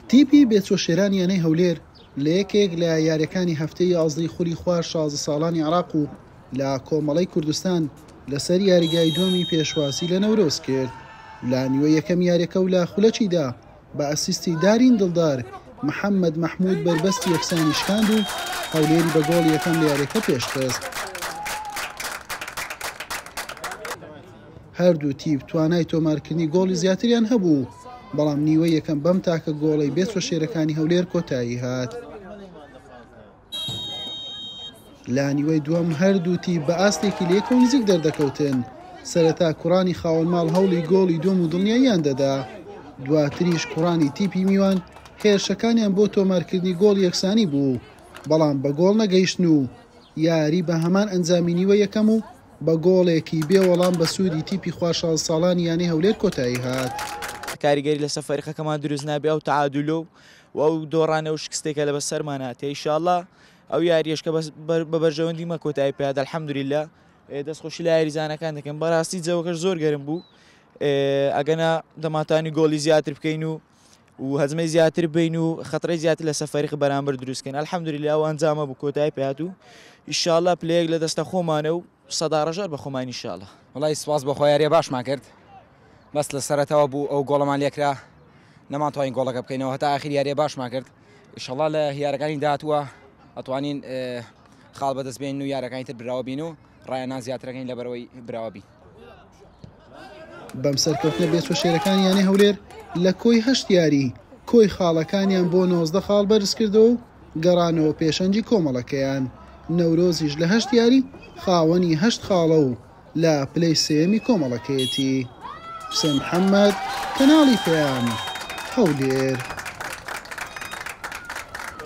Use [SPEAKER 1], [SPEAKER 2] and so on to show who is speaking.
[SPEAKER 1] تیپی بێچۆ شێران یانەی هەولێر لە یەکێک لە یاریەکانی هەفتەی یازدەی خولی خوار شازدە ساڵانی عراق و لە کۆمەڵەی کوردستان لەسەر یاریگای دووەمی پێشوازی لە نەورۆز کرد لە نیوە یەکەم یاریەکە و لە خولەکیدا بە ئەسیستی دارین دڵدار محەممەد مەحمود بەربەستی یەکسانی شکاند و هەولێری بە گۆڵ یەکەم لە یاریەکە پێشخست هەردوو تیپ توانای تۆمارکردنی گۆڵی زیاتریان هەبوو، بەڵام نیوەی یەکەم بەم تاکە گۆڵەی بێ چوەشێرەکانی هەولێر کۆتایی هات. لە نیوەی دووەم هەردوو تیپ بە ئاستێکی لێکەوە نزیک دەردەکەوتن، سەرەتا کوڕانی خاوەن ماڵ هەوڵی گۆڵی دووەم و دڵنیاییان دەدا، دواتریش کوڕانی تیپی میوان هێرشەکانیان بۆ تۆمارکردنی گۆڵ یەکسانی بوو، بەڵام بە گۆڵ نەگەیشتن و یاری بە هەمان ئەنجامی نیوە یەکەم و بە گۆڵێکی بێ وەڵام بە سوودی تیپی خوار شانس ساڵانی یانەی هەولێر کۆتایی هات. کاریگەری لەسەر
[SPEAKER 2] فەریقەکەمان دروست نابێ ئەو تەعادولە و و ئەو دۆڕانە و شکستەی کە لە بە سەرمان هاتێ ئیشاڵا ئەو یاریەش کە بە بەرژەوەندی مە کۆتایی پێات الحمدللە دەست خۆشی لە یاریزانەکان دەکەن بەڕاستی جەوەکەش زۆر گەرم بوو ئەگەنا دەماتانی گۆڵی زیاتر بکەین و و هەزمەی زیاتر بین و خەتڕی زیاتر لەسە فەرق بەرامبەر دروستکەن الحمدلله ئەو ئەنجامە بوو کۆتای پات و ئیشاالله پلەیەک لە دەستە خۆمانە و سەداڕژار بە خۆمان ئیشاالله وڵی سپاس بە خۆیاریە
[SPEAKER 3] باشمان کرد بەس لە سەرەتەوە بوو ئەو گۆڵەمان لێکرا نەمانتوانین گۆڵەکە بکەینەوە هەتا ئاخیر یاریە باشمان کرد ئیشەڵا لە هیارەکانی داهاتووە ئەتوانین خاڵ بەدەست بێن و یارەکانی تر براوە بین و ڕایە نا زیاترەکەین لەبەرەوەی براوەبی.
[SPEAKER 1] بەم سەرکەوتنە بێچوە شێرەکانی یانەی هەولێر لە کۆی هەشت یاری کۆی خاڵەکانیان بۆ نۆزدە خاڵ بەرزکردەوە و گەڕانەوە پێشەنگی کۆمەڵەکەیان نەورۆزیش لە هەشت یاری خاوەنی هەشت خاڵە و لە پلەی سێیەمی کۆمەڵەکەیەتی حسێن محەممەد کەناڵی پێیان هەولێر